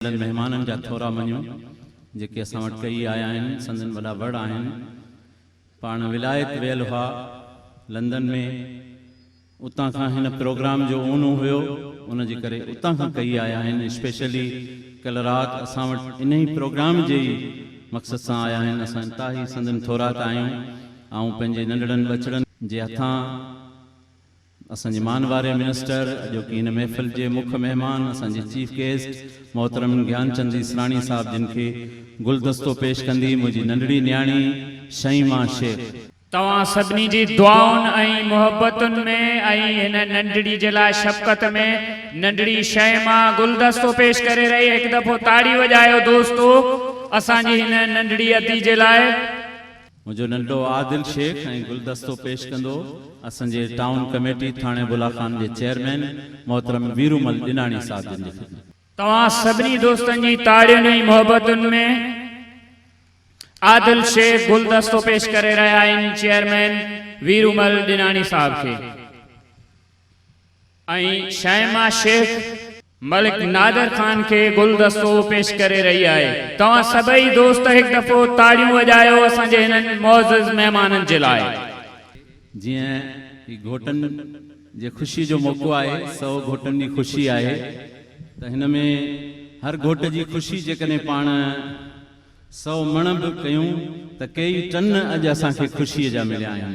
انهن مهمانن جا ٿورا مڃون جيڪي اسان وٽ ڪهي آيا آهن، سندن وڏا وڙ آهن. پاڻ ولايت ويل هئا، لندن ۾، اتان کان هن پروگرام جو اونو هيو، ان جي ڪري اتان کان ڪهي آيا آهن، اسپيشلي ڪلهه رات اسان وٽ انهي پروگرام جي ئي مقصد سان آيا آهن، اسان انتهائي سندن ٿوراڪ آهيون، آئون پنهنجي ننڍڙن ٻچڙن جي هٿان. اسان جي مان واري منسٽر اڄوڪي هن محفل جي مک مهمان اسان جي چيف گيسٽ محترم گيان چند ايسراڻي صاحب جن کي گلدستو پيش ڪندي منهنجي ننڍڙي نياڻي شيما شيخ. توهان سڀني جي دعائن ۽ محبتن ۾ ۽ هن ننڍڙي جي لاء شفقت ۾ ننڍڙي شيما گلدستو پيش ڪري رهي هڪ دفعو تاڙي وڄايو دوستو اسان جي هن ننڍڙي ادي جي لاء. منهنجو ننڍو عادل شيخ ۽ گلدستو پيش ڪندو اسان جي ٽائون ڪميٽي ٿاڻي بلا خان جي چيئرمين محترم ويرومل ڏناڻي صاحب جن جي خدمت توهان سڀني دوستن جي تاڙين ۽ محبتن ۾ عادل شيخ گلدستو پيش ڪري رهيا آهن چيئرمين ويرومل ڏناڻي صاحب کي. ۽ شائما شيخ ملڪ نادر خان کي گلدستو پيش ڪري رهي آهي توهان سڀئي دوست هڪ دفعو تاڙيون وڄايو اسان جي هنن معزز مهمانن جي لاء. جيئن هي گهوٽن جي خوشي جو موقعو آهي سو گهوٽن جي خوشي آهي ته هن ۾ هر گهوٽ جي خوشي جيڪڏهن پاڻ سو مڻ به ڪيون ته ڪيئي ٽن اڄ اسان کي خوشي جا مليا آهن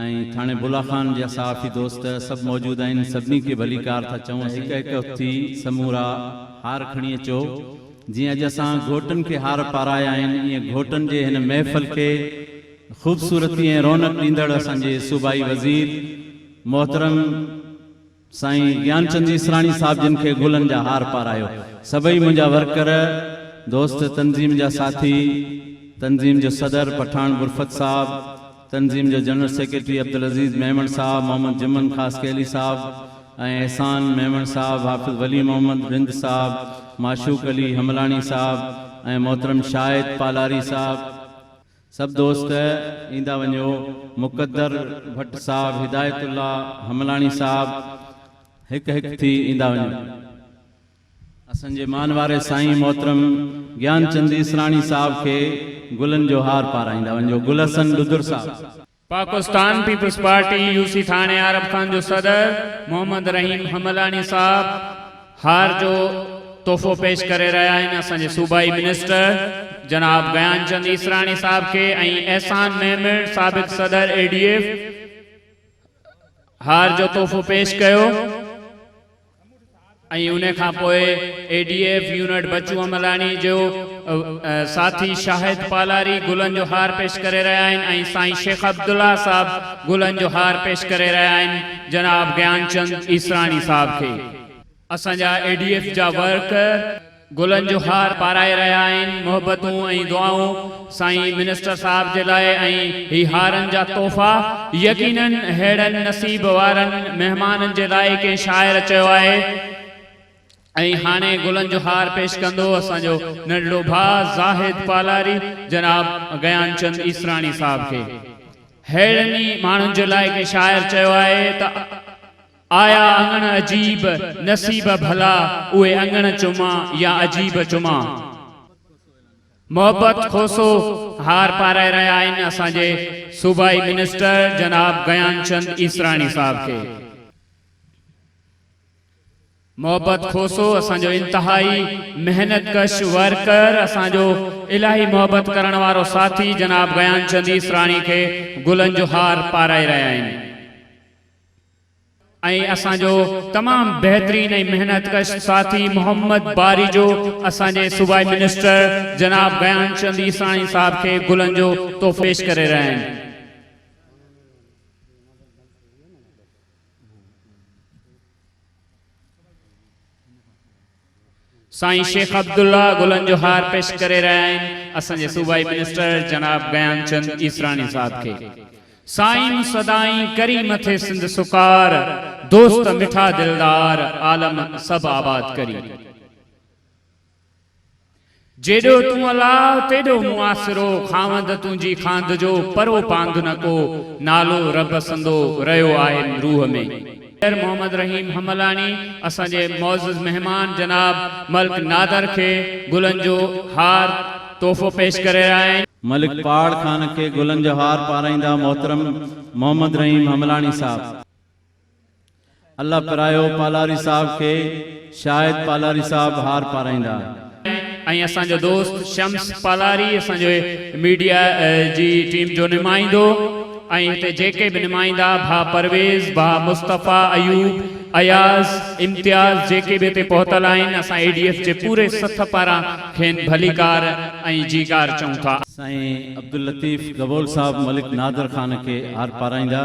۽ ٿاڻي بلا خان جا صحافي دوست سڀ موجود آهن سڀني کي ڀليڪار ٿا چئون ته هڪ هڪ اٿي سمورا هار کڻي اچو جيئن اڄ اسان گهوٽن کي هار پارايا آهن ايئن گهوٽن جي هن محفل کي خوبصورتي ۽ رونق ڏيندڙ اسان جي صوبائي وزير محترم سائين گيانچند ايسراڻي صاحب جن کي گلن جا هار پارايو سڀئي منهنجا ورڪر دوست تنظيم جا ساٿي تنظيم جو صدر پٺاڻ برفت صاحب تنظيم جو جنرل سيڪريٽري عبدالعزيز ميمڻ صاحب محمد جمن خاصخيلي صاحب ۽ احسان ميمڻ صاحب حافظ ولي محمد رند صاحب معشوق علي حملاڻي صاحب ۽ محترم شاهد پالاري صاحب سڀ دوست ايندا وڃو. مقدر ڀٽ صاحب، هدايت الله حملاڻي صاحب هڪ هڪ ٿي ايندا وڃو. اسان جي مان واري سائين محترم گيان چند ايسراڻي صاحب کي گلن جو هار پارائيندا وڃو. گل حسن ڏڌر صاحب. Pakistan Peoples Party U C Thano Arab Khan جو صدر محمد رحيم حملاڻي صاحب هار جو تحفو پيش ڪري رهيا آهن اسان جي صوبائي منسٽر جناب گيان چند عيسراڻي صاحب کي ۽ احسان ميمڻ سابق صدر اي ڊي ايف هار جو تحفو پيش ڪيو. ۽ ان کان پوء A D F unit Bachu Amlani جو ساٿي شاهد پالاري گلن جو هار پيش ڪري رهيا آهن ۽ سائين شيخ عبدالله صاحب گلن جو هار پيش ڪري رهيا آهن جناب گيانچند ايسراڻي صاحب کي اسان جا اي ڊي ايف جا ورڪر. گلن جو هار پارائي رهيا آهن محبتون ۽ دعائون سائين منسٽر صاحب جي لاء ۽ هي هارن جا تحفا يقينن ههڙن نصيب وارن مهمانن جي لاء ڪنهن شاعر چيو آهي ۽ هاڻي گلن جو هار پيش ڪندو اسان جو ننڍڙو ڀاء زاهد پالاري جناب گيان چند عيسراڻي صاحب کي ههڙن ئي ماڻهن جي لاء ڪنهن شاعر چيو آهي ته آيا اڱڻ عجيب، نصيب ڀلا اهي اڱڻ چوما يا عجيب چوما. محبت کوسو هار پارائي رهيا آهن اسان جي صوبائي منسٽر جناب گيان چند عيسراڻي صاحب کي. محبت کوسو اسان جو انتهائي محنت ڪش ورڪر اسان جو الاهي محبت ڪرڻ وارو ساٿي جناب گيان چند عيسراڻي کي گلن جو هار پارائي رهيا آهن. ۽ اسان جو تمام بهترين ۽ محنت ڪش ساٿي محمد باري جو اسان جي صوبائي منسٽر جناب غيان چند عيساڻي صاحب کي گلن جو تحفو پيش ڪري رهيا آهن. سائين شيخ عبدالله گلن جو هار پيش ڪري رهيا آهن اسان جي صوبائي منسٽر جناب گيان چند عيسراڻي صاحب کي سائين سدائين ڪريم ٿئي سنڌ سڪار دوست مٺا دلدار عالم سڀ آباد ڪري. جيڏو تون الاء تيڏو مون آسرو، خاوند تنهنجي خاند جو، پرو پاند نه ڪو، نالو رب سندو، رهيو آهن روح ۾. پير محمد رحيم حملاڻي اسان جي معزز مهمان جناب ملڪ نادر کي گلن جو هار تحفو پيش ڪري رهيا آهن. ملڪ پاڙ خان کي گلن جو هار پارائيندا محترم محمد رحيم حملاڻي صاحب. الله پرايو پالاري صاحب کي شايد پالاري صاحب هار پارائيندا. ۽ اسان جو دوست شمس پالاري اسان جي ميڊيا جي ٽيم جو نمائندو ۽ هتي جيڪي به نمائندا ڀا پرويز ڀا مصطفيٰ ايوب اياز امتياز جيڪي به هتي پهتل آهن اسان اي ڊي ايف جي پوري سٿ پاران کين ڀليڪار ۽ جيڪار چئون ٿا. سائين عبداللطيف گبول صاحب ملڪ نادر خان کي هار پارائيندا.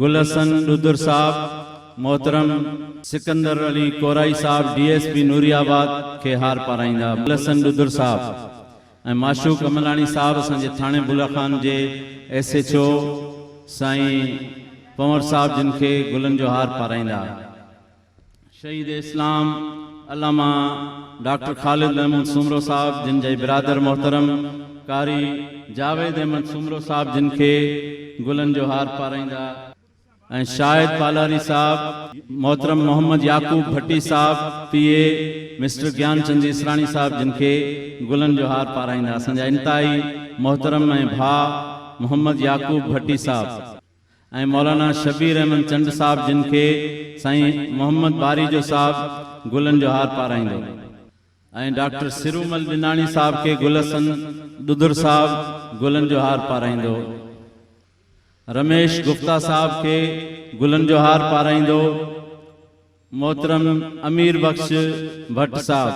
گل حسن ڏودر صاحب، محترم سڪندر علي ڪورائي صاحب D S P Nooriabad کي هار پارائيندا گل حسن ڏودر صاحب ۽ معشوق عملاڻي صاحب اسان جي ٿاڻي بلڙ خان جي ايس ايڇ او سائين پنور صاحب جن کي گلن جو هار پارائيندا. شهيد اسلام علامه ڊاڪٽر خالد محمود سومرو صاحب جن جي برادر محترم قاري جاويد احمد سومرو صاحب جن کي گلن جو هار پارائيندا ۽ شاهد پالاري صاحب، محترم محمد يعقوب ڀٽي صاحب P A mister Gyan Chand Israni صاحب جن کي گلن جو هار پارائيندا اسان جا انتهائي محترم ۽ ڀاء محمد يعقوب ڀٽي صاحب. ۽ مولانا شبير احمد چنڊ صاحب جن کي سائين محمد ٻاريجو صاحب گلن جو هار پارائيندو ۽ ڊاڪٽر سرومل ڏناڻي صاحب کي گل حسن ڏڌر صاحب گلن جو هار پارائيندو رميش گفتا صاحب کي گلن جو هار پارائيندو. محترم امير بخش ڀٽ صاحب،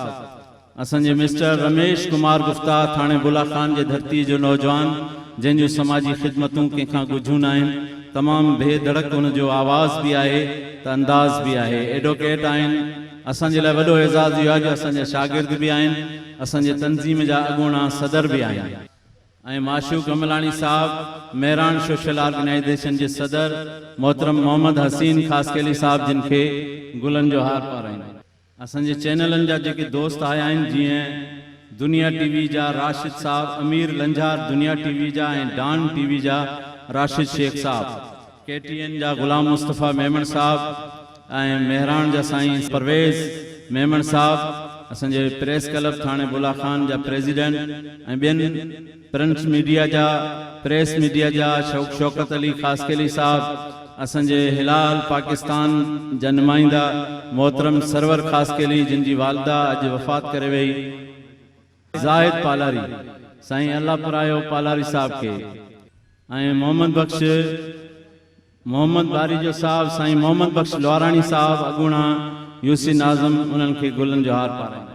اسان جي مسٽر رميش ڪمار گفتا ٿاڻي بلا خان جي ڌرتي جو نوجوان جنهن جون سماجي خدمتون ڪنهن کان ڳجهيون ناهن، تمام بي ڌڙڪ ان جو آواز به آهي ته انداز به آهي، ايڊوڪيٽ آهن، اسان جي لاء وڏو اعزاز اهو آهي جو اسان جا شاگرد به آهن، اسان جي تنظيم جا اڳوڻا صدر به آهن. ۽ معشوق املاڻي صاحب، مهراڻ سوشل آرگنائيزيشن جي صدر محترم محمد حسين خاصخيلي صاحب جن کي گلن جو هار پارائين. اسان جي چينلن جا جيڪي دوست آيا آهن جيئن دنيا ٽي وي جا راشد صاحب، امير لنجهار دنيا ٽي وي جا ۽ ڊان ٽي وي جا راشد شيخ صاحب، ڪي ٽي اين جا غلام مصطفيٰ ميمڻ صاحب، ۽ مهراڻ جا سائين پرويز ميمڻ صاحب، اسان جي پريس ڪلب ٿاڻي بلا خان جا پريزيڊنٽ ۽ ٻين پرنٽ ميڊيا جا، پريس ميڊيا جا شوق شوڪت علي خاصخيلي صاحب، اسان جي هلال پاڪستان جا نمائندا محترم سرور خاصخيلي جن جي والده اڄ وفات ڪري وئي، زاهد پالاري، سائين الله پرايو پالاري صاحب کي ۽ محمد بخش. محمد باريجو صاحب، سائين محمد بخش لواراڻي صاحب، اڳوڻا يوسي ناظم انهن کي گلن جو هار پارائيندا.